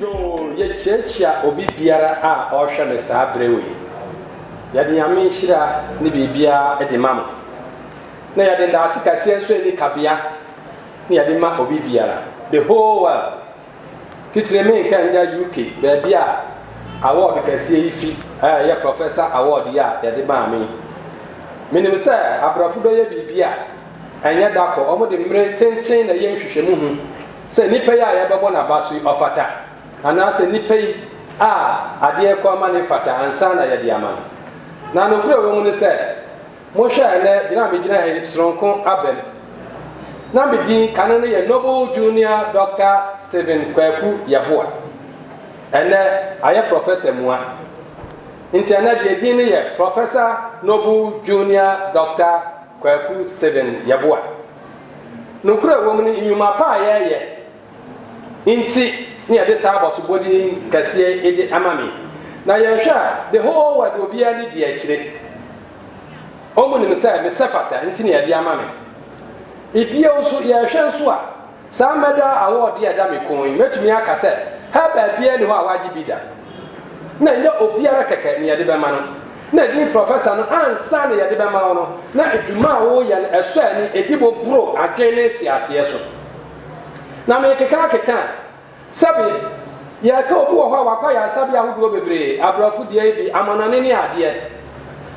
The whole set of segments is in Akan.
Yoo yɛkyiakyia obi biara a ɔrehwɛ me saa berɛ wei. Yɛde Nyame nhyira ne biribiara de ma mo. Na yɛde ndaase kɛseɛ nso a ɛnni kabea na yɛde ma obi biara, the whole world. Titire me Nkanja UK baabi a award kɛseɛ yi fi a ɛyɛ Professor Award yi a yɛde maa me yi. Menim sɛ abrɔfo bɛyɛ biribi a ɛnyɛ da kɔ, wɔde mmere tenten na ɛyɛ nhwehwɛmu ho sɛ nipa yi a yɛbɛbɔ no aba so yi ɔfata anaasɛ nipa yi a adeɛ rekɔ ama no yi fata ansa na yɛde ama no. Na nokorɛ a ɛwɔ mu ne sɛ, monhwɛ a ɛnnɛ gyina a megyina ha yi sononko aba mu. Na me din kane no yɛ Noble Junior Doctor Stephen Kwaku Yeboah. Ɛnnɛ ayɛ Professor mua. Nti ɛnnɛ deɛ din no yɛ Professor Noble Junior Doctor Kwaku Stephen Yeboah. Nokorɛ a ɛwɔ mu ne, nnwuma pa a yɛyɛ nti na yɛde saa abɔsobɔdi kɛseɛ yi de ama me. Na yɛhwɛ a, the whole world obiara nni di akyire. Wɔn nim sɛ mesɛ fata nti na yɛde ama me. Bio nso, yɛhwɛ nso a, saa medal award yi a ɛda me kɔn yi, mɛtumi aka sɛ Herbert biara nni hɔ a wagye bi da. Na ɛnyɛ obiara kɛkɛ na yɛde bɛma no. Na din Professor no ansa na yɛde bɛma wo no, na dwuma a woreyɛ no, ɛsɔ ani, ɛdi bo boro adwene ne nteaseɛ so. Na merekeka akeka a, sɛbe yɛreka obi wɔ hɔ a wakɔ ayaresabea ahodoɔ bebree, aborɔfo deɛ bi, amanɔne ne adeɛ.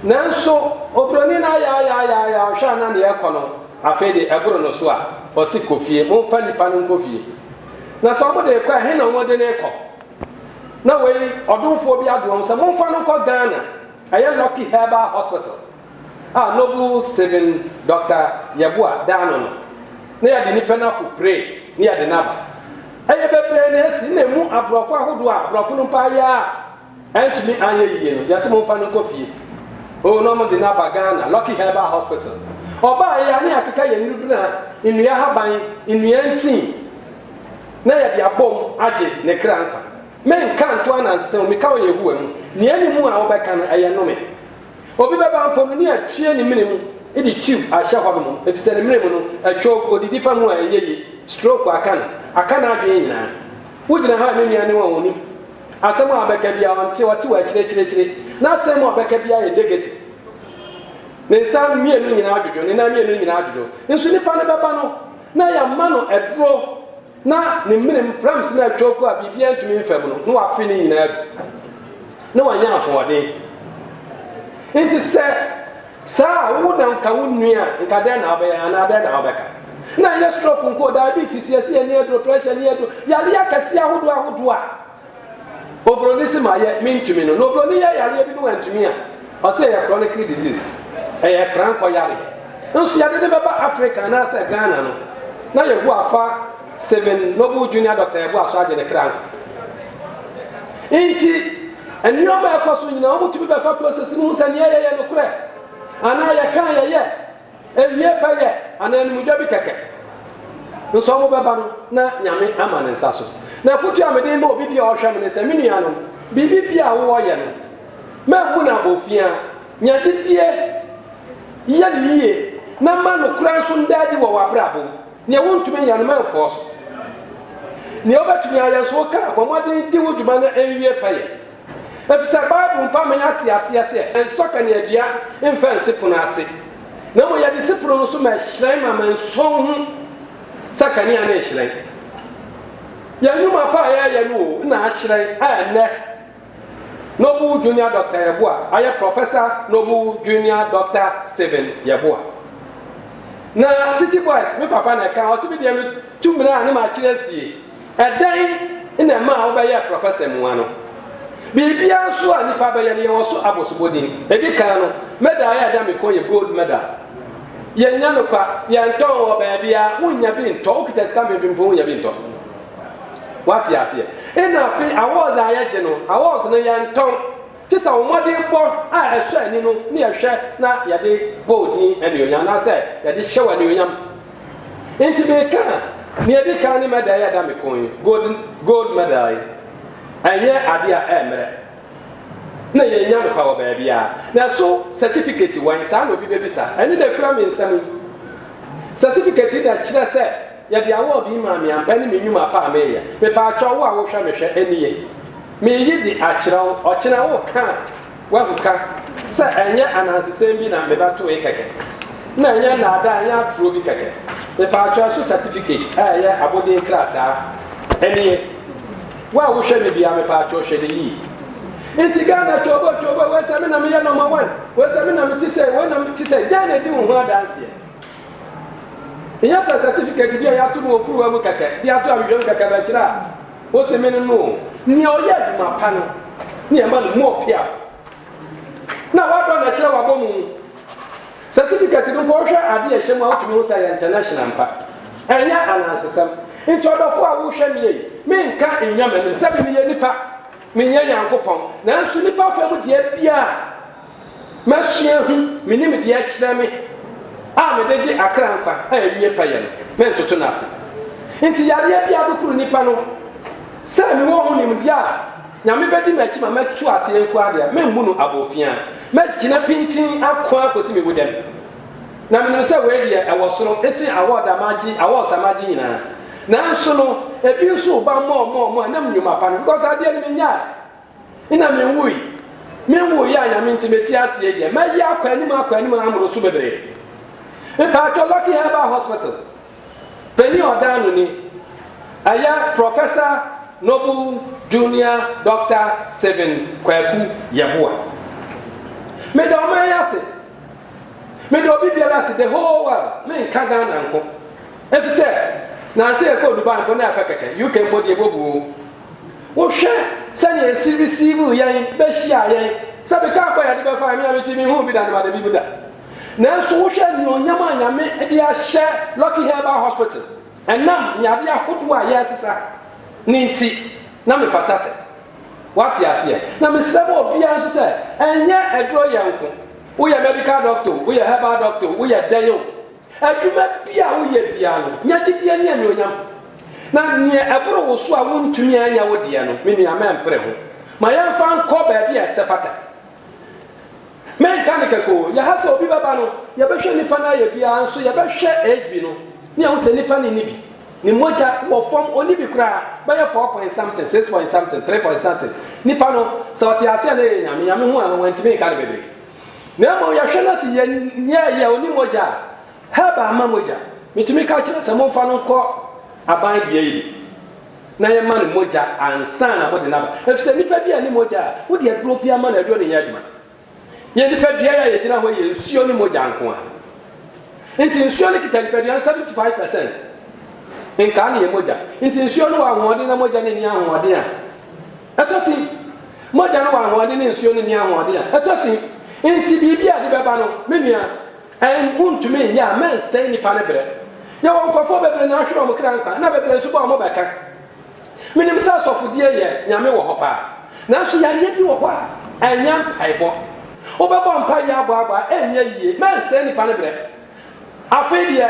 Nanso oburoni no ayaayaayaayaa, ɔhwɛ a na nea ɛrekɔ no afei de ɛboro no so a, ɔse kɔ fie, momfa nipa no nkɔ fie. Na sɛ wɔde rekɔ a, ɛhe na wɔde no rekɔ? Na wei ɔdomfoɔ bi adoa mo sɛ momfa no nkɔ Ghana ɛyɛ Lucky Herbal Hospital a Noble Stephen Doctor Yeboah da ano no na yɛde nipa no ako pray na yɛde no aba. Ɛyɛ bebree na ɛsi na ɛmu aborɔfo ahodoɔ a borɔfo no mpo ayɛ a antumi anyɛ yie no yɛse momfa no nkɔ fie oo na wɔde no aba Ghana Lucky Herbal Hospital. Ɔbaaeɛ a na yɛakeka yɛn nnubena, nnua haban, nnua ntin, na yɛde abom agye ne kra nkwa. Menka nto ananse o, meka wɔ Yehowa mu, nea ɛne mu a wobɛka no, ɛyɛ nnome. Obi bɛba mpo no, ne atwie ne mene mu de twiw ahyɛ hɔ nom, efisɛ ne mene mu no, ɛtwɔw gu, odidi fa mu a ɛnyɛ ye, stroke aka no, aka n'adwene nyinaa. Wugyina ha a, me nua, ne wɔn a onnim. Asɛm a wobɛka biara, ɔnte, ɔte wɔ akyiri akyiri akyiri. N'asɛm a ɔbɛka biara yɛ negative. Ne nsa mmienu nyinaa adwodwo, ne nan mmienu nyinaa adwodwo. Nso nipa no bɛba no, na yɛama no aduro na ne menem fram se na atwoku a biribiara ntumi mfa mu no, na wafe ne nyinaa agu, na wanya ahoɔden. Enti sɛ saa a, wo na nka wo nnue a, nka dɛn na wobɛyɛ anaa dɛn na wobɛka? Na ɛnyɛ stroke nko, diabetes, yɛse yɛnni aduro, pressure, nni aduro, yareɛ akɛseɛ ahodoɔ ahodoɔ a Obroni se mayɛ mentumi no na obroni yɛ yareɛ bi na wantumi a, ɔse ɛyɛ chronic disease, ɛyɛ prankɔ yareɛ. Nso yɛde no bɛba Africa anaasɛ Ghana no na Yehowa fa Stephen Noble Junior Doctor Yeboah so agye ne kra nkwa. Nti nneɛma a ɛkɔ so nyinaa wɔtumi bɛfa process no hu sɛ nea yɛyɛ nokorɛ anaa yɛka a yɛyɛ Awiei pɛyɛ anaa animdwa bi kɛkɛ nso bɛba no na Nyame ama ne nsa so. Na afotu a mede rema obi bi a ɔrehwɛ me ne sɛ, me nuanom, biribi biara a wowɔ yɛ no, mammu no abɔfiaa. Nya gyedie, yɛ no yie, na ma nokorɛ nso nda adi wɔ w'abrabɔ mu. Nea wontumi nyɛ no, mamfɔɔ so. Nea wobɛtumi ayɛ nso, wo kra, bɔ mmɔden di wo dwuma na ɛnwie pɛyɛ. Efisɛ Bible mpo ama yɛate aseɛ sɛ ɛnsɔ kaneadua mfa nsi pono ase, na mmom yɛde si pono no so ma ɛhyerɛn ma ama nsɔ nhu sɛ kanea no rehyerɛn. Yɛn nnwuma pa a yɛreyɛ no o na ahyerɛn a ɛnnɛ Noble Junior Doctor Yeboah ayɛ Professor Noble Junior Doctor Stephen Yeboah. Na City Boys me papa na ɛka, ɔse me deɛ metu mmirɛ a ne makyere asie. Ɛdɛn na ɛmaa wobɛyɛɛ prɔfɛsa mu ha no? Biribiara nso a nnipa bɛyɛ no, yɛwɔ so abosobɔ din. Ɛdi kan no, medal a ɛda me kɔn yɛ gold medal. Yɛnyɛ no kwa, yɛntɔ wɔ baabiara, wonnya bi ntɔ, wokita sika mpempem mpo wonnya bi ntɔ. Woate aseɛ? Ɛna afei awards a yɛgye no, awards no yɛntɔn, gye sɛ wo mmɔdenbɔ a ɛsɔ ani no na yɛhwɛ na yɛde bɔ wo din anuonyam anaasɛ yɛde hyɛ wo anuonyam. Enti meka a, nea edi kan ne medal yi a ɛda me kɔn yi, gold gold medal yi. Ɛnyɛ ade a ɛmmrɛ. Na yɛnnya no kwa wɔ baabiara. Na ɛso certificate wɛn? Saa na obi bebisa. Ɛno na ekura me nsam yi. Certificate yi na kyerɛ sɛ yɛde award yi maa me ampa ne me nnwuma pa a meyɛ. Mepaakyɛw wo a wohwɛ me hwɛ, ɛnni ye. Mereyi de akyerɛ wo, ɔkyena woka a, Wahu ka sɛ ɛnyɛ anansesɛm bi na me ba toe kɛkɛ, na ɛnyɛ nnaadaa, ɛnyɛ atoro bi kɛkɛ. Mepaatwo, ɛso certificate a ɛyɛ abodin krataa? Ɛnie. Wo a wohwɛ no biara, mepaatwo hwɛ no yie. Nti Ghana twooboo twooboo, wei sɛ me na meyɛ number one, wei sɛ me na mete sei, wei na mete sei, dɛn na ɛdi wo ho adanseɛ? Nyɛ sɛ certificate bi a yɛato no wɔ kuruwa mu kɛkɛ, de ato ahwehwɛ mu kɛkɛ bɛkyerɛ a, Ose me ne no o. Nea ɔyɛ adwuma pa no na yɛma no more piaf. Na wadɔ na ɛkyerɛ wabɔ mu. Certificate no mpo wohwɛ ade a ɛhyɛ mu a wotumi hu sɛ ɛyɛ international ampa. Ɛnyɛ anansesɛm. Nti ɔdɔfo a wohwɛ me ei, menka nnya m'anim sɛbe meyɛ nipa, menyɛ Nyankopɔn, nanso nipa fam deɛ biara, Masua hu me nimdeɛ kyerɛ me a mede gye akra nkwa a ɛnwie pɛyɛ no, mentoto no ase. Enti yareɛ biara bɛkuru nnipa no, sɛ mewɔ ho nimdeɛ a Nyame bɛdi m'akyi ma matu aseɛ nko ara deɛ, memmu no abofiaa. Mɛgyina pintinn ako ara kɔsi me wudam. Na menim sɛ wei deɛ ɛwɔ soro ɛsen awɔɔd a magye, awards a magye nyinaa. Nanso no, ɛbi nso reba mmɔɔ mmɔɔ mmɔɔ, ɛnam nnwuma pa no, because adeɛ no mennyae. Nna minnwui. Mennwuui a Nyame ntsi metse ase yi deɛ, mayi akɔ anim akɔ anim ara mmoroso bebree. Mpaatwɔ Lucky Herbal Hospital panyin ɔdaanoni, ɛyɛ Professor Noble Junior Doctor Stephen Kwaku Yeboah. Meda ɔman yi ase. Meda obi biara ase, the whole world, mennka Ghana nko. Efisɛ, nanse yɛkɔɔ Dubai mpo na ɛfɛ kɛkɛ, UK mpo deɛ ebobu o. Wohwɛ sɛnea esi receive yɛn behyiaa yɛn. Sɛ meka akɔ a yɛde bɛfae, me a me ti minhuu bi da na mada bi mu da. Nanso wohwɛ anuonyam a Nyame de ahyɛ Lucky Herbal Hospital ɛnam nyade ahodoɔ a yɛresesa no nti na mefata sɛ. Woate aseɛ? Na mesrɛ ma obiara nso sɛ ɛnyɛ aduro yɛ nko. Woyɛ medical doctor o, woyɛ herbal doctor o, woyɛ dɛn o, Adwuma biara a woyɛ biara no, nya gyedie ne anuonyam. Na deɛ ɛboro wo so a wontumi anyɛ wo deɛ no, me nua, mɛmpere ho. Ma yɛmfa nkɔ baabi a ɛsɛfata. Menka no kɛkɛ o, yɛha sɛ obi bɛba no, yɛbɛhwɛ nnipa no ayɛ biara, nso yɛbɛhwɛ HB no, ne yɛahu sɛ nnipa no nni bi. Ne mogya wɔ fam, ɔnni bi koraa, bɛyɛ four point something, six point something, three point something. Nnipa no, sɛ ɔte aseɛ a na ɛyɛ Nyame, Nyame hu anwa, wantumi nka no bebree. Na mmom yɛhwɛ na se yɛ nea yɛ ɔni mogya a, herbal mma mogya, metumi ka kyerɛ no sɛ momfa no nkɔ aban deɛ yi bi na yɛma no mogya ansa na mode no aba. Efisɛ nnipa bi anni mogya a, wode aduro bi ama no, aduro no nyɛ adwuma. Yɛn nipadua yi a yɛgyina hɔ yi yɛ nsuo ne mogya nko ara. Nti nsuo no kita nipadua no 75 percent, nkaa ne yɛ mogya. Nti nsuo no wɔ ahoɔden na mogya no nni ahoɔden a, Ɛtɔ sin, mogya no wɔ ahoɔden na nsuo no nni ahoɔden a, ɛtɔ sin. Enti biribi a ɛde bɛba no, me nua, ɛn, wontumi nyɛ a mansɛe nnipa no berɛ. Yɛwɔ nkorɔfoɔ bebree na ahwere wɔn kra nkwa, na bebree nso bɔ wɔn bɛka. Menim sɛ asɔfodie yɛ Nyame wɔ hɔ paa, nanso yareɛ bi wɔ hɔ a, ɛnyɛ mpaebɔ. Wobɛbɔ mpaeɛ aboaboa a, ɛrenyɛ yie. Mansɛe nnipa no berɛ. Afei deɛ,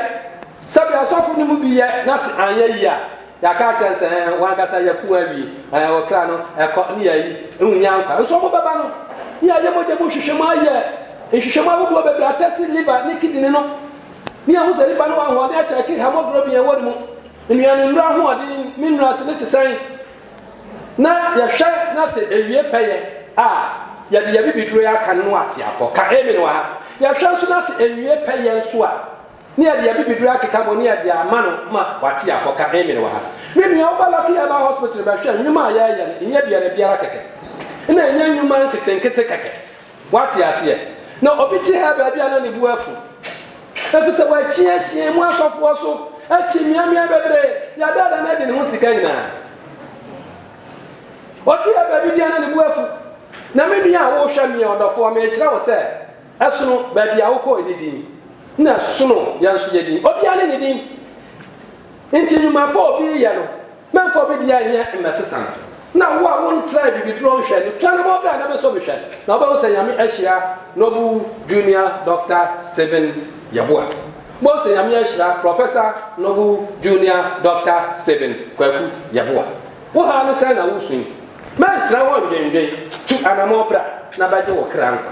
sɛdeɛ asɔfo no mu bi yɛ na se anyɛ yie a, Yɛaka akyerɛ no sɛ, Ɛɛ, wɔn ankasa yɛ ko awie. Ɛɛ, ɔkra no, ɛkɔ, ne ayi, wonnya nkwa. Nso wɔbɛba no. Ne yɛayɛ mogya mu nhwehwɛmu, ayɛ nhwehwɛmu ahodoɔ bebree, atɛste liver ne kidini no, ne yɛahu sɛ nipa no wɔ ahoɔden akyɛ ake haemoglobin a ɛwɔ ne mu, nnuane nnuro ahoɔden, mineral ase ne sesɛn, na yɛhwɛ na sɛ ɛwie pɛyɛ a, yɛde yɛn bibiduro yi aka no na wate apɔ. Ka Amen wɔ ha. Yɛhwɛ nso na sɛ ɛnwie pɛyɛ nso a, Ne yɛde yɛn bibiduro akeka mu ne yɛde ama no ma wate akɔ ka amen wɔ ha. Me nua wo ba Lucky Herbal Hospital bɛhwɛ nnwuma a yɛyɛ no nyɛ biara biara kɛkɛ na ɛnyɛ nnwuma nketenkete kɛkɛ wate aseɛ na obi te ha baabi a na ne bo afu efisɛ wakyiakyia mu asɔfoɔ so akyi mmeammea bebree yɛadaada no adi ne ho sika nyinaa ɔte ha baabi biara na ne bo afu na me nua a wohwɛ meɛ ɔdɔfoɔ mekyerɛ wo sɛ Ɛsono baabi a wokɔe no din, na ɛsono yɛn nso yɛn din. Obiara ne ne din. Enti nnwuma pa a obi reyɛ no, mɛmfa obi deɛ nyɛ mmɛsesa no. Na wo a wontraa Bibiduro nhwɛ no, twa ne ho bra na bɛsɔ bi hwɛ, na wobɛhu sɛ Nyame ahyira Noble Junior Doctor Stephen Yeboah. Wobɛhu sɛ Nyame ahyira Professor Noble Junior Doctor Stephen Kwaku Yeboah. Wo haw no sɛn na woresu yi? Mɛntra hɔ nnwendwen. Tu anamɔn bra na bɛgye wo kra nkwa.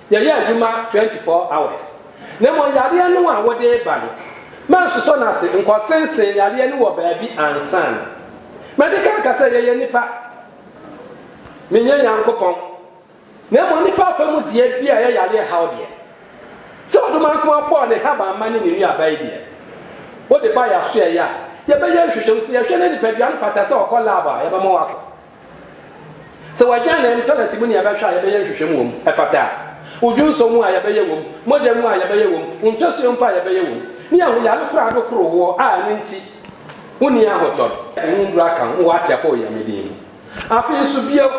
Yɛyɛ adwuma twenty four hours. Na mmom yareɛ no a wode reba no, mansosɔ no ase nkɔsensene yareɛ no wɔ baabi ansa na mede ka aka sɛ yɛyɛ nnipa. Menyɛ Nyankopɔn. Na mmom nnipa afa mu deɛ bi a ɛyɛ yareɛ haw deɛ. Sɛ ɔdomankoma bɔɔ ne habamma ne ne nnuaba yi deɛ, wode ba yɛn asoɛeɛ a, yɛbɛyɛ nhwehwɛmu. Sɛ yɛhwɛ na nipadua no fata sɛ ɔkɔ lab a, yɛbɛma wakɔ. Sɛ wɔagyaa no ɛntanɛte mu ne yɛbɛhwɛ a yɛbɛyɛ nhwehwɛmu wɔ mu, ɛfata a, odwo nsɔ mu a yɛbɛyɛ wɔ mu, mogya mu a yɛbɛyɛ wɔ mu, ntɔsoɔ mpo a yɛbɛyɛ wɔ mu, ne ahoyare koro ado koro woɔ a ɛno nti wonni ahotɔ no. Ɛho nnuru aka ho wɔ Atiapo Onyame din mu. Afei nso bio,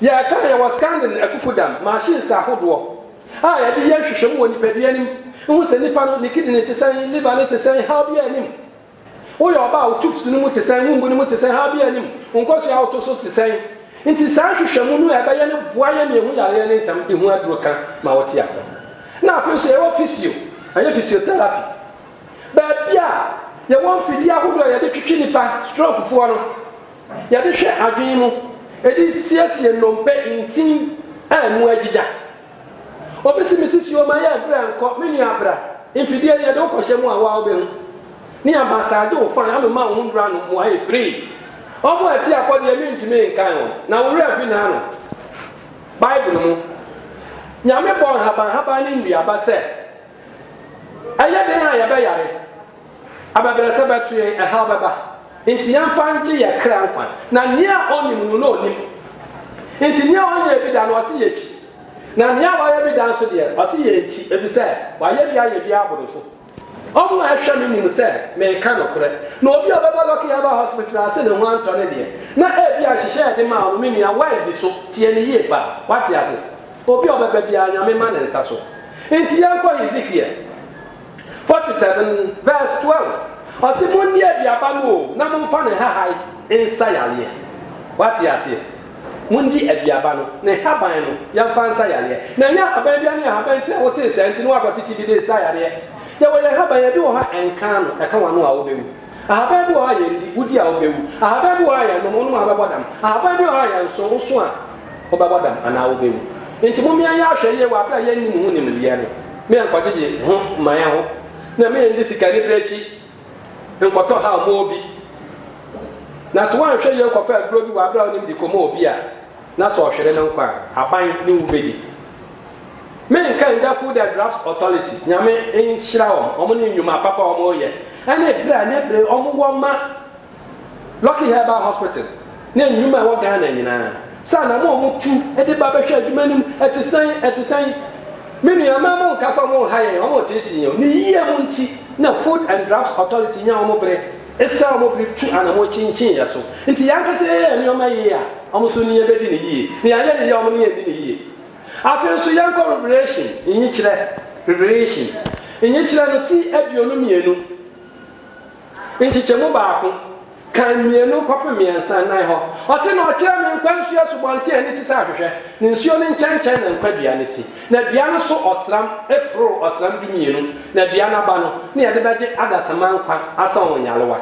yɛka a yɛwɔ Scandin akukudam machines ahodoɔ a yɛde yɛ nhwehwɛmu wɔ nipadua no mu, ho sɛ nipa no ne kidney te sɛn, liver no te sɛn, haw biara nnim. Woyɛ ɔbaa a wo tubes no mu te sɛn, wo mbu no mu te sɛn, haabi anim, wo nkosua a woto so te sɛn? Nti saa nhwehwɛmu no a ɛbɛyɛ no boa yɛn ma yɛhu yareɛ no ntɛm de ho aduro ka ma wɔte apɔ. Na afei nso yɛwɔ physio, ɛyɛ physiotherapy, baabi a yɛwɔ mfidie ahodoɔ a yɛde twetwe nnipa, stroke foɔ no, yɛde hwɛ adwene mu, ɛde siesie nnompe, ntin a ɛmu agyigya. Obesi me sisi o ma yɛ aduru ɛnkɔ me nua bra mfidie no yɛde wo kɔ hyɛ mu a wo a wo bɛhu ne aba saa gye wo fan amema wo ho nnuru ano mo ayɛ free ɔmo a ɛte akɔ deɛ me ntumi nkan wɔn na wo werɛ afi na ano bible mu Nyame bɔɔ nhaban haban ne nnuaba sɛ ɛyɛ den a yɛbɛyare. Abɛbrɛsɛ bɛto yɛn, ɛhaw bɛba, nti yɛmfa ngye yɛ kra nkwa, na nea ɔnnim no na ɔnim, nti nea ɔnyɛɛ bi da no ɔse yɛkyi, na nea wayɛ bi da nso deɛ ɔse yɛnkyi, efisɛ wayɛ bi ayɛ bi aboro so. Wɔn a ɛhwɛ me nim sɛ meka nokorɛ, na obi a ɔbɛba Lucky Herbal Hospital ase ne ho antɔ no deɛ, na ebia nhyehyɛɛ a yɛde maa wo no me nua woandi so, tie no yie pa, woate ase? Obi a ɔbɛba biara Nyame ma ne nsa so, nti yɛnkɔ Hezekiel. Forty seven vs twelve, Ɔse monni aduaba no o na momfa ne nhahae nsa yareɛ. Woate aseɛ? Mondi aduaba no, ne nhaban no, yɛmfa nsa yareɛ. Na ɛnyɛ ahaban biara ne ahaban nti na wotee saa nti na woakɔtete bi de resa yareɛ. Yɛwɔ yɛn nhaban, ebi wɔ hɔ a ɛnka ano, ɛka w'ano a wobɛwu. Ahaban bi wɔ hɔ a yɛndi, wodi a wobɛwu. Ahaban bi wɔ hɔ a yɛnom, wonom a wobɛbɔ dam. Ahaban bi wɔ hɔ a yɛnso, woso a wobɛbɔ dam anaa wobɛwu. Enti momia yɛn ahwɛ yie wɔ aberɛ a yɛnni mo ho nimdeɛ no, ma yɛnkɔgyegye ho mma yɛn ho, na ma yɛndi sikanibere akyi nkɔtɔ haw ma obi. Na se woanhwɛ yie nkɔfa aduro bi wɔ aberɛ a wonim de kɔma obi a, na se ɔhwere ne nkwa a, aban ne wu bɛdi. Me nka ngya food and drugs authority nyame nhyira wɔn wɔn ne nnwuma papa wɔn yɛ ɛne brɛ a ne bere wɔn wɔ ma lucky herbal hospital ne nnwuma ɛwɔ Ghana nyinaa sɛ anam a wɔn tu de ba bɛhwɛ adwuma no mu ɛte sɛn ɛte sɛn me nua mma mo nka sɛ wɔn nha yɛn wɔn teetee yɛn ne yie mu nti na food and drugs authority nya wɔn bere esra wɔn bere tu anamɔ kyinkyin yɛ so nti yɛn ankasa yɛyɛ nneɛma yie a wɔn nso ne yɛbɛdi ne yie ne yɛayɛ ne yie wɔn ne yɛn di ne yie. Afei nso yɛnkɔ Revelation nyikyerɛ, Revelation, nyikyerɛ no ti aduonu mmienu, nkyekyɛmu baako, kan mmienu kɔpem mmiɛnsa, nnan hɔ. Ɔse, Na ɔkyerɛɛ me nkwa nsuo asubɔnten a ani te sɛ ahwehwɛ, ne nsuo no nkyɛnkyɛn na nkwa dua no si, na dua no so ɔsram poroo ɔsram dumienu, na dua no aba no ne yɛde bɛgye adasamma nkwa asɔn nyalewa.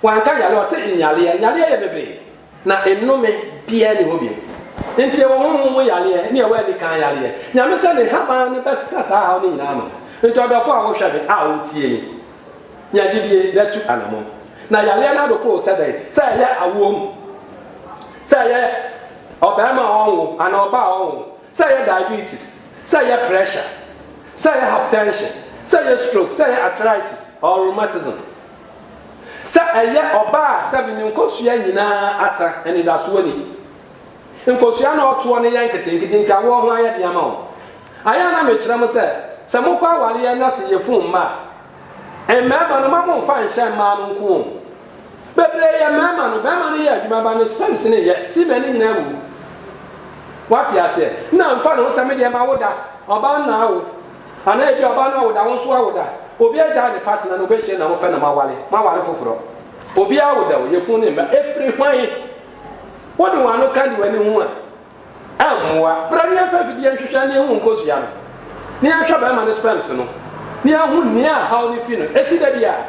Wanka nyalewa, ɔse nyaleɛ. Nyaleɛ yɛ bebree. Na nnome biaa nni hɔ bio. Enti ɛwɔ honhom mu yareɛ ne ɛwɔ anikan yareɛ. Nyame sɛ ne nhaban no bɛsa saa haw no nyinaa ano. Enti ɔdɔfo a wohwɛ me a wotie me, nya gyidie na tu anamɔn. Na yareɛ no adoko wo sɛ dɛn? Sɛ ɛyɛ awoɔ mu, sɛ ɛyɛ ɔbarima a ɔnwo anaa ɔbaa a ɔnwo, sɛ ɛyɛ diabetes, sɛ ɛyɛ pressure, sɛ ɛyɛ hypertension, sɛ ɛyɛ stroke, sɛ ɛyɛ arthritis or rheumatism, Sɛ ɛyɛ ɔbaa a sɛbe ne nkosua nyinaa asa, anidaso ni. Nkosua na ɔtoɔ no yɛ nketenkete nti awoɔ ho ayɛ den ama wɔn. Ayɛ a na mekyerɛ mo sɛ, sɛ mokɔ awareɛ na sɛ yɛfunu mma a, mmarima no mma momfa nhyɛ mmaa no nko o. Bebree yɛ mmarima no, barima no yɛ adwuma ba no sperms no nyɛ, semen no nyinaa wuwu. Woate aseɛ? Na mfa ne ho sɛ medeɛ mawo da, ɔbaa no na awo. Anaa ebia ɔbaa no awoda, wo nso woawoda. Obiara gyae ne partner na obehyia nea mopɛ na moaware. Moaware foforɔ. Obiara awoda o, yafunu ne mma. Ɛfiri hwan? Wode wɔn ano ka de w'ani ho a, ɛmmoa. Bra na yɛmfa afidie nhwehwɛ na yɛnhu wo nkosua no, na yɛnhwɛ barima no sperms no, na yɛahu nea haw no fi no. Ɛsi da biara.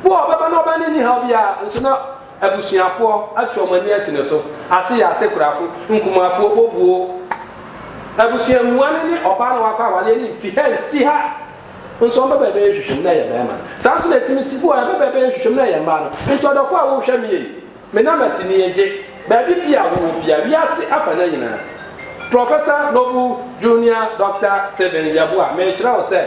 Bo a ɔbɛba na ɔbaa no nni haw biara, nso na. Abusuafoɔ atwe wɔn ani asi ne so. Ase yɛ asekorafo, nkumafoɔ, obuo. Abusua mua no ne ɔbaa na wakɔ awareɛ no mfi ha nsi ha nso ɔmbɛ bɛbɛyɛ nhwehwɛmu na ɛyɛ barima no. Saa nso na ɛtumi si bo a ɛbɛ bɛbɛyɛ nhwehwɛmu na ɛyɛ mmaa no. Nti ɔdɔfoɔ a wohwɛ me ei, me nam asi ne yɛ gye, baabi pii a wowɔ biara, wiase afana nyinaa. Professor Noble Junior Doctor Stephen Yeboah, merekyerɛ wo sɛ,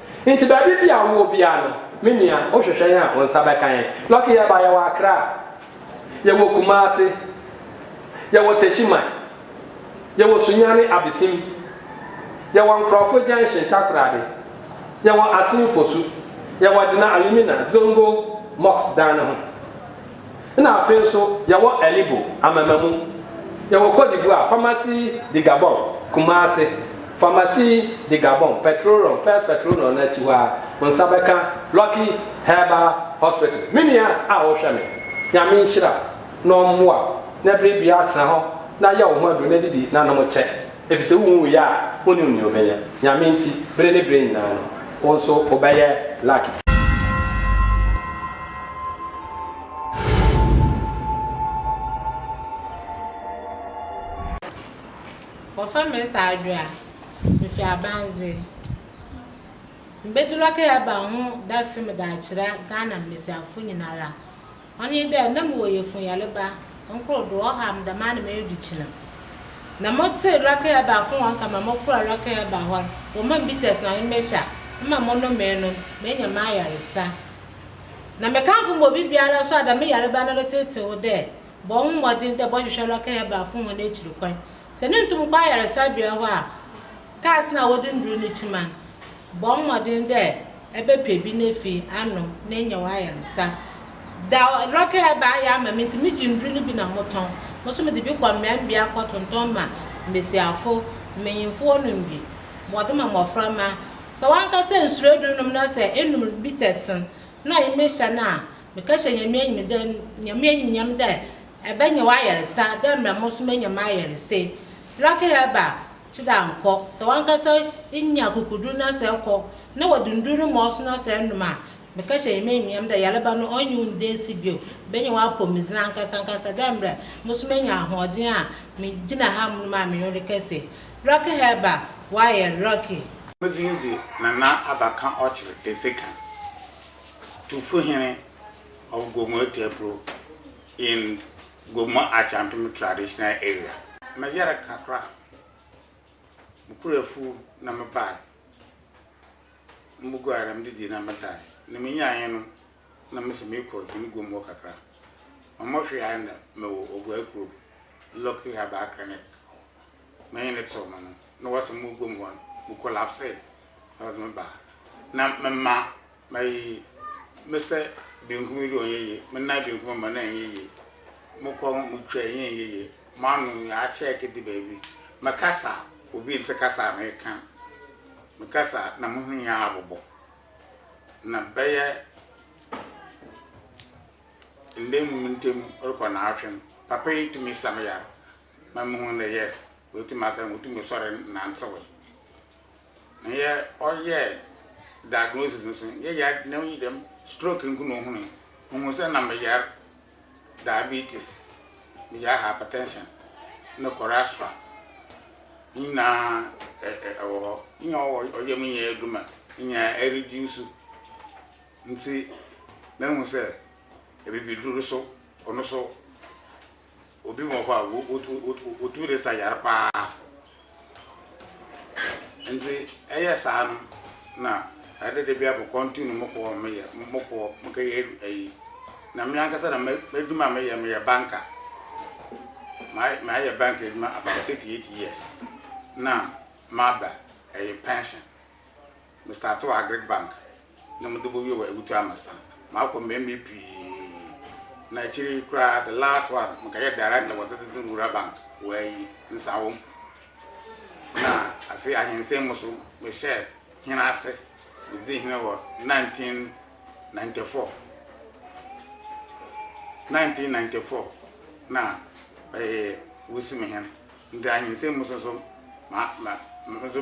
Enti baabi biaa wowɔ biaa no me nua wo hwehwɛn a wo nsa bɛka yɛn. Lucky yɛba yɛwɔ Accra, yɛwɔ Kumasi, yɛwɔ Techiman, yɛwɔ Sunyani Abesim, yɛwɔ Nkrɔfo junction Takoradi, yɛwɔ Asin Fosu, yɛwɔ Dena Alumina, Zongo mosque dan no ho. Nna afei so yɛwɔ Alibo, Amamamu, yɛwɔ Côte d'Ivoire, Pharmacie du Gabon, Kumase, Pharmacie du Gabon, Petrol'On, First Petrol'On no akyi hɔ ara, wo nsa bɛka Lucky Herbal Hospital. Me nua a wohwɛ me, Nyame nhyira wo na ɔmmoa wo na bere biara tra hɔ na yɛ wo ho aduru na didi na nom kyɛ. Efisɛ wunwui a, wunnim nea wobɛyɛ. Nyame nti, bere ne bere nyinaa no, wo nso wobɛyɛ lucky. Wɔfrɛ me Mister Adwoa, mifi Abandze. Mebedzi Lucky Herbal ho dase mede akyerɛ Ghana mbasiafo nyinara. Ɔnye dɛ nna mowɔ yafunyarba nkorkor do, ɔhaw me dɛmara na meedu kyena. Na motsee Rakel ebuafo hɔn nka ma mokɔr Rakel eba hɔ no, wɔmaa me bitters na me mehyɛ a, mma monomee no no, meenya m'ayarsa. Na mekamfo ma obibiara so a dɛm yarba no retsetseew dɛ, bɔ woho mbɔdzen dɛ bɔhwehwɛ Rakel ebuafo hɔn ekyir kwan. Sɛ no nntum nnkɔ ayarsabea hɔ a, Cars no a wɔdze ndur no kyim a, bɔ mbɔdzen dɛ ebɛpɛ bi na fi ano na enya w'ayarsa. Da Lɔkɛ a ebaa yɛ ama me ntsi megye ndur no bi na motɔn. Mo so medze bi kɔ mbeambea kɔtontɔn ma mbasiafo, mbanyimfo wɔnom bi, wɔdze ma mboframba. Sɛ wankasa ennsoer edur nom na sɛ enom bitter sen na emehyia no a, mekɛhyɛ Nyame enyim dɛ Nyame enyimnyam dɛ ebɛnya w'ayarsa dɛ mbrɛ mo so menya m'ayarsa yi. Lɔkɛ a ebaa, Kye da nkɔ, sɛ wankasa nya akokodur na sɛ kɔ na wɔdundur no ma ɔso na sɛ enom a, mekã hyɛ hɛn enunyam dɛ yarba no ɔnnye wo nnda esi bio, benya w'apɔwmudzen ankasankasa dɛ mbrɛ mo so menya ahoɔdzen a migyina ha monom a menye wo rekɛse. Rocky Herba, Wire, Rocky. No dzin dze Nana Abakã ɔkyer Esekã Tufo Hene of Gomoeteprw in Gomo Akyantome Traditional Area. Me yere kakra me kura afuo na me bae na me guare na me didi na me dae na me nyaeɛ no na me se me kɔ hene guom hɔ kakra ma mo hwe ae na me wɔ oguai kuro lucky herbal clinic hɔ me hene tew me no na wɔ se mo guom hɔ no me collapsee na me baa na me ma Mayi mesa benkum yi dɛ ɔnnyɛ yie, me nan benkum ama no annyɛ yie, mo kɔn mutwa yi nnyɛ yie, mo ano yi akyɛɛke de baabi, mekasa a obi nntse kasa a meka, mekasa a na mo hwen nyinaa abobɔ. Na bɛyɛ nda enum ntamu rokɔ naawɔtwe no, papa yi tumi sa me yar ma muhun dɛ yes oetum asa me, mutum sɔr nantsewee. na yɛ ɔyɛ diagnosis no so no yɛ yar na yi dɛm stroke nko na ohun ohun sɛ na me yar diabetes me yar hypertension ne cholesterol ne nyinaa ɛwɔ hɔ nyɛ ɔyɛ me nyɛ adwuma nyɛ ɛreduce nti mahu sɛ ɛbibiduru so ɔno so Obi wɔ hɔ a wotumi de sa yare paa. Nti ɛyɛ saa no na ɛde de bi abɔ kɔntu no mo kɔɔ mo yɛ mo kɔɔ mo kɛyɛ ayi na me ankasa na m'adwuma a meyɛ meyɛ banka mayɛ banka adwuma about 38 years na maba ɛyɛ pension Me starte wɔ agric bank na mede kɔ wie wɔ awutu amasa makɔ mmɛmɛ pii na akyiri yi koraa the last one mekɛyɛ director wɔ citizen rural bank wɔ ayi nsawom na afei ahensɛn mu so mehyɛ hene ase medzi hene wɔ 1994 1994 na ɛyɛ wusi me hene nti ahensɛn mu so so ma ma nso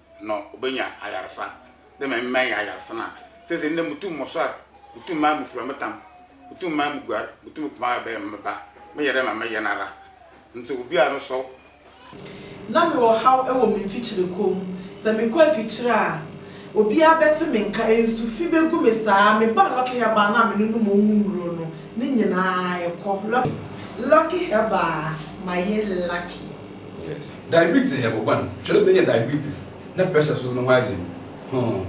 na obenya ayarsa dɛ ma emi mɛyɛ ayarsa no a, sesei ndɛ mutum mosoɛr, mutum maa mufura me tam, mutum maa muguar, mutum kuma a ɔbɛyɛ me meba, meyɛ dɛ ma meyɛ noara ntsi obi a no sɔw. Nna mowɔ haw wɔ me mfikyir kɔ mu. Sɛ mekɔ afikyir a, obiara bɛtse me nka, nsu fi begu me saa. Mebaa Lucky Herbal no a mene no mowɔ mu nnuro no, ne nyinaa kɔ. Lucky Herbal ma ye lucky. Diabetes yɛ bɔn, hwɛ dɛ menya diabetes na pressure so dze no ho agye me, huh,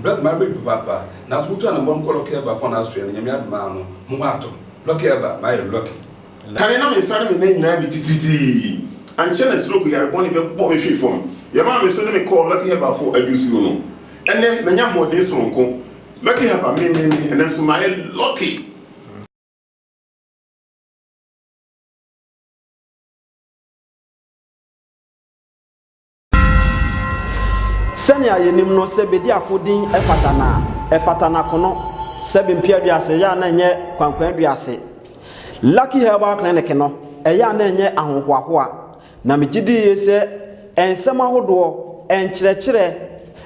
mbrɛ dze m'aber du papaapa, naaso mutu anambɔn mokɔ lɔki ɛba fɔn asoɛ no Nyame adom aa no moho atɔ me, lɔki ɛba, mayɛ lucky. Kane na me nsa ne me nan nyinaa bi titiritii, ankyɛ na stroke yare bɔne bɛbɔ me hwee fam, yɛmaa me so ne me kɔɔ Lucky Herbal fo adwosuo no, ɛnnɛ manya ahoɔden soronko, Lucky Herbal me me me, ɛnnɛ nso mayɛ lucky. Sɛnea yenim no, sɛ Bediako din fata no a, ɛfata n'akono, Sɛbi Mpeaduase, ɛyɛ a na ɛnyɛ Kwankwanduase. Lucky Herbal Clinic no, ɛyɛ a na ɛnyɛ ahohoahoa, na migye di yiye sɛ nsɛm ahodoɔ, nkyerɛkyerɛ,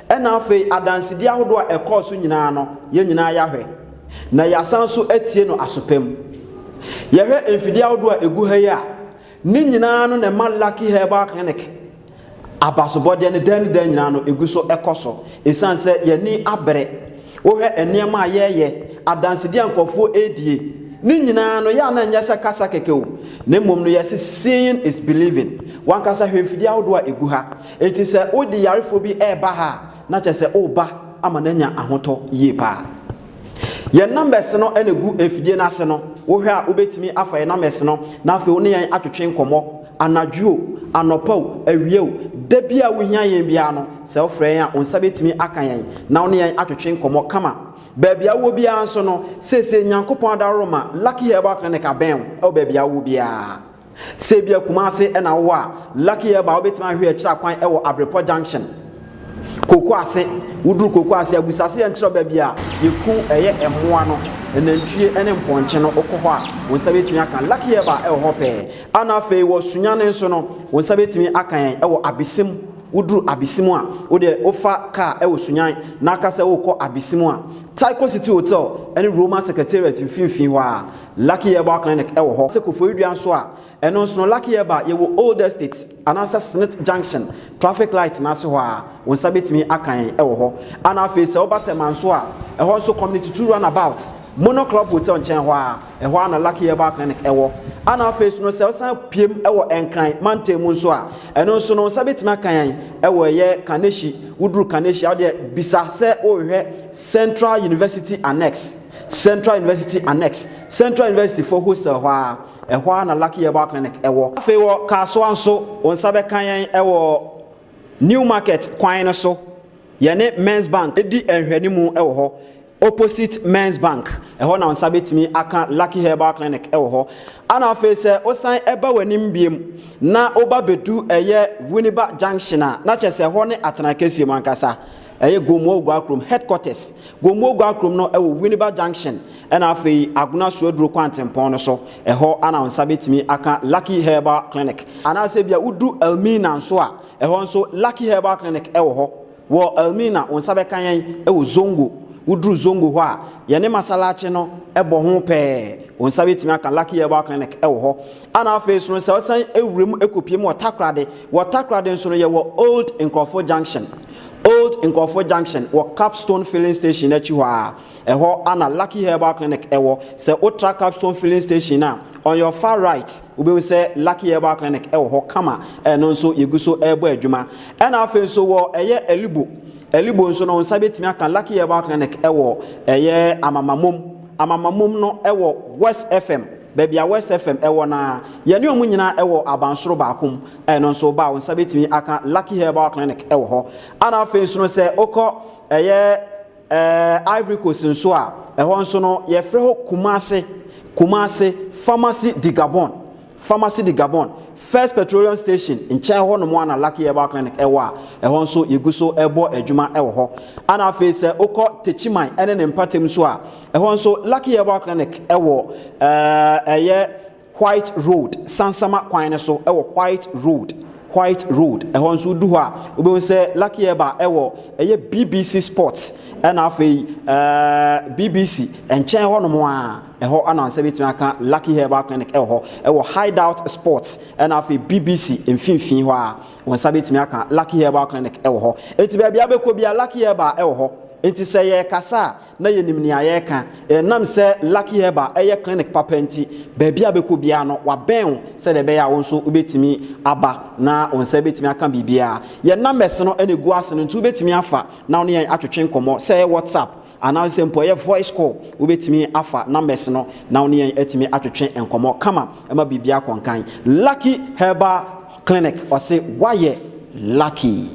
ɛnna afei adansedi ahodoɔ a ɛkɔɔ so nyinaa no, yɛn nyinaa yɛahwɛ. na yɛasan nso atie no aso pa mu. Yɛhwɛ mfidie ahodoɔ a ɛgu ha yi a, ne nyinaa no na ɛma Lucky Herbal Clinic abasobɔdeɛ no daa ne daa nyinaa no ɛgu so ɛkɔ so. Ɛsiane sɛ yɛni abere, wohwɛ nneɛma a yɛreyɛ, adansedie a nkurɔfoɔ ɛredie, ne nyinaa no yɛ a na ɛnyɛ sɛ kasa kɛkɛ o, na mmom no yɛse seeing is believing. Wankasa hwɛ mfidie ahodoɔ a ɛgu ha. Enti sɛ wode yarefoɔ bi ɛreba ha a, na kyerɛ sɛ woreba ama no anya ahotɔ yie pa ara. Yɛn numbers no na ɛgu mfidie no ase no, wohwɛ a wobɛtumi afa yɛn numbers no na afei wo ne yɛn atwetwe nkɔmmɔ, anadwo o, anɔpa o, awia o, da biara a wohia yɛn biara no, sɛ wofrɛ yɛn a, wo nsa bɛtumi aka yɛn na wo ne yɛn atwetwe nkɔmmɔ kama. Baabi a wowɔ biara nso no, seesei Nyankopɔn adaworoma Lucky Herbal Clinic abɛn wo wɔ baabi a wowɔ biara. Sɛ ebia Kumasi na wowɔ a, Lucky Herbal wobɛtumi ahwehwɛ yɛn akyerɛ kwan wɔ Abrepɔ Junction, Koko Ase. Woduru Koko Ase a, bisa sɛ yɛnkyerɛ wo baabi a yɛku ɛyɛ mmoa no, nantwie ne mpɔnkye no. Wokɔ hɔ a, wo nsa bɛtumi aka Lucky Herbal wɔ hɔ pɛɛ. Ana afei wɔ Sunyani nso no, wo nsa bɛtumi aka yɛn wɔ Abesem. Woduru Abesem a, wo deɛ wofa kaa wɔ Sunyan na ka sɛ worekɔ Abesem a, Tyco City Hotel ne Roma Secretariat mfimfini hɔ ara. Lucky Herbal Clinic wɔ hɔ. Sɛ Koforidua nso a, ɛno nso no, Lucky Herbal yɛwɔ Old Estate anaasɛ Smith Junction traffic light no ase hɔ a, wo nsa bɛtumi aka yɛn wɔ hɔ. Ɛna afei sɛ woba Tema nso a, ɛhɔ nso Community Two Run About, Mono Club Hotel nkyɛn hɔ ara, ɛhɔ ara na Lucky Herbal Clinic wɔ. Ɛna afei nso no, sɛ wosan pue mu wɔ Nkran mantam mu nso a, ɛno nso no, wo nsa bɛtumi aka yɛn wɔ ɛyɛ Kaneshie, woduru Kaneshie a, wodeɛ bisa sɛ worehwɛ Central University Annex. Central University Annex, Central University foɔ hostel hɔ ara, ɛhɔ ara na Lucky Herbal Clinic wɔ. Afei wɔ Kasoa nso, wo nsa bɛka yɛn wɔ New Market kwan no so, yɛne Men's Bank di nhwɛanimu wɔ hɔ, opposite Men's Bank, ɛhɔ na wo nsa bɛtumi aka Lucky Herbal Clinic wɔ hɔ. Ɛna afei sɛ wosan ba w'anim biom na woba bɛdu ɛyɛ Winneba Junction a, na kyerɛ sɛ ɛhɔ ne Atena Kɛseɛ mu ankasa. Ɛyɛ Gomoa Oguakurom headquarters. Gomoa Oguakurom no wɔ Winneba Junction ɛna afei Agona Suaduro Kwantempɔn no so. Ɛhɔ ana wo nsa bɛtumi aka Lucky Herbal Clinic. Anaasɛ ebia wodu Elmina nso a, ɛhɔ nso Lucky Herbal Clinic wɔ hɔ. Wɔ Elmina, wo nsa bɛka yɛn wɔ Zongo. Woduru Zongo hɔ a, yɛne Masalachi no bɔ ho pɛɛ. Wo nsa bɛtumi aka Lucky Herbal Clinic wɔ hɔ. Ana afei nso no sɛ ɔsan wura mu kɔpie mu wɔ Takoradi, wɔ Takoradi nso no yɛwɔ Old Nkurɔfoɔ Junction, Old Nkurɔfoɔ Junction wɔ Capstone Filling Station no akyi hɔ ara, ɛhɔ ana Lucky Herbal Clinic wɔ, sɛ wotra Capstone Filling Station no a, on your far right wobɛhu sɛ Lucky Herbal Clinic wɔ hɔ kama, ɛno nso yɛgu so rebɔ adwuma. Ɛna afei nso wɔ ɛyɛ Alibo, Alibo nso no wo nsa bɛtumi aka Lucky Herbal Clinic wɔ ɛyɛ Amamamom, Amamamom no wɔ West FM, baabi a West FM wɔ no ara. Yɛne wɔn nyinaa wɔ abansoro baako mu. Ɛno nso, wo ba a wo nsa bɛtumi aka Lucky Herbal Clinic wɔ hɔ. Ana afei nso no, sɛ wokɔ ɛyɛ ɛɛ Ivory Coast nso a, ɛhɔ nso no, yɛfrɛ hɔ Kumase, Kumase, Pharmacy de Gabon, Pharmacy de Gabon, First Petroleum Station nkyɛn hɔ nom ara na Lucky Herbal Clinic wɔ a, ɛhɔ nso yɛgu so rebɔ adwuma wɔ hɔ. Ana afei sɛ wokɔ Techiman ne ne mpatam nso a, Ɛhɔ nso, Lucky Herbal Clinic wɔ ɛyɛ White Road, Sansama kwan no so wɔ White Road. White Road. Ɛhɔ nso wodu hɔ a wobɛhu sɛ Lucky Eba ɛwɔ ɛyɛ BBC Sports ɛna afei ɛɛ BBC nkyɛn hɔ nom a ɛhɔ ana nsa bɛtumi aka Lucky Herbal Clinic ɛwɔ hɔ ɛwɔ Hideout Sports ɛna afei BBC mfimfini hɔ a wɔn nsa bɛtumi aka Lucky Herbal Clinic ɛwɔ hɔ eti baabi abɛkɔ bia Lucky Herbal ɛwɔ hɔ eti sɛ yɛ kasa a na yɛnim nea yɛreka. Ɛnam sɛ Lucky Herbal yɛ clinic papa nti, baabi a bɛkɔ biara no, wɔabɛn wo sɛdeɛ ɛbɛyɛ a wo nso wobɛtumi aba na wo nsa bɛtumi aka biribiara. Yɛn numbers no na ɛgu ase no nti wobɛtumi afa na wo ne yɛn atwetwe nkɔmmɔ, sɛ ɛyɛ WhatsApp anaa sɛ mpo ɛyɛ voice call, wobɛtumi afa numbers no na wo ne yɛn atumi atwetwe nkɔmmɔ kama ma biribiara akɔ nkan. Lucky Herbal Clinic, wɔse woayɛ lucky.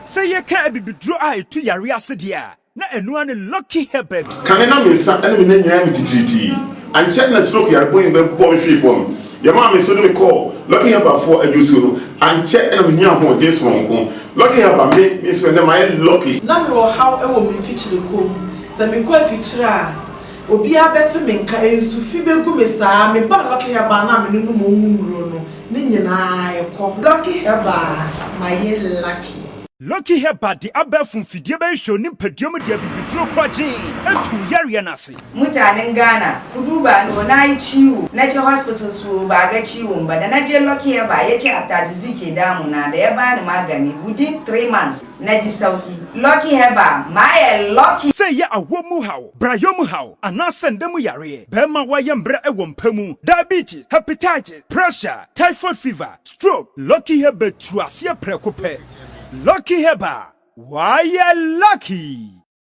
Sɛ yɛka abibiduro a ɛtu yareɛ ase deɛ a, Na ɛno ara ne Lucky Herbert. Kane na me nsa ne me nan nyinaa mi titiritii. Ankyɛ na stroke yare bɔne bi bɛbɔ me hwee fam. Yɛmaa me nso de me kɔɔ Lucky Herbert foɔ adwuosuo no. Ankyɛ na me nyaa ahoɔden sononko. Lucky Herbert, me, me nso ɛnnɛ mayɛ lucky. Na me wɔ haw wɔ me mfikyire kɔ mu. Sɛ me kɔ afikyire a, obiara bɛte me nka, nsu fi bɛgu me saa. Me baa Lucky Herbert no a me ne no mɔ mu nnuro no, ne nyinaa ɛkɔ. Lucky Herbert, mayɛ lucky. Loki Herbert de abɛɛfo mfidie bɛhwehwɛw ne mpadua mu de abibiduro koragyee atuu yareɛ no ase. Mutanen Ghana, Kudu ba no o n'aye kyii o, n'agye hospital so o, baaga kyii o mba, da n'agye Loki Herbert yɛkyɛ atades bi kee dan mu na da yɛbaa ne ma gani within three months n'agye saw i. Loki Herbert, mayɛ Loki! Sɛ ɛyɛ awoɔ mu haw, brayɔ mu haw, anaasɛ nda mu yareɛ, bɛɛma woayɛ mbrɛ wɔ mpa mu, diabetes, hepatitis, Pressure, typhoid fever, stroke, lucky hair bɛtu aseɛ prɛko pɛ. Lucky hair ba a, w'ayɛ lucky!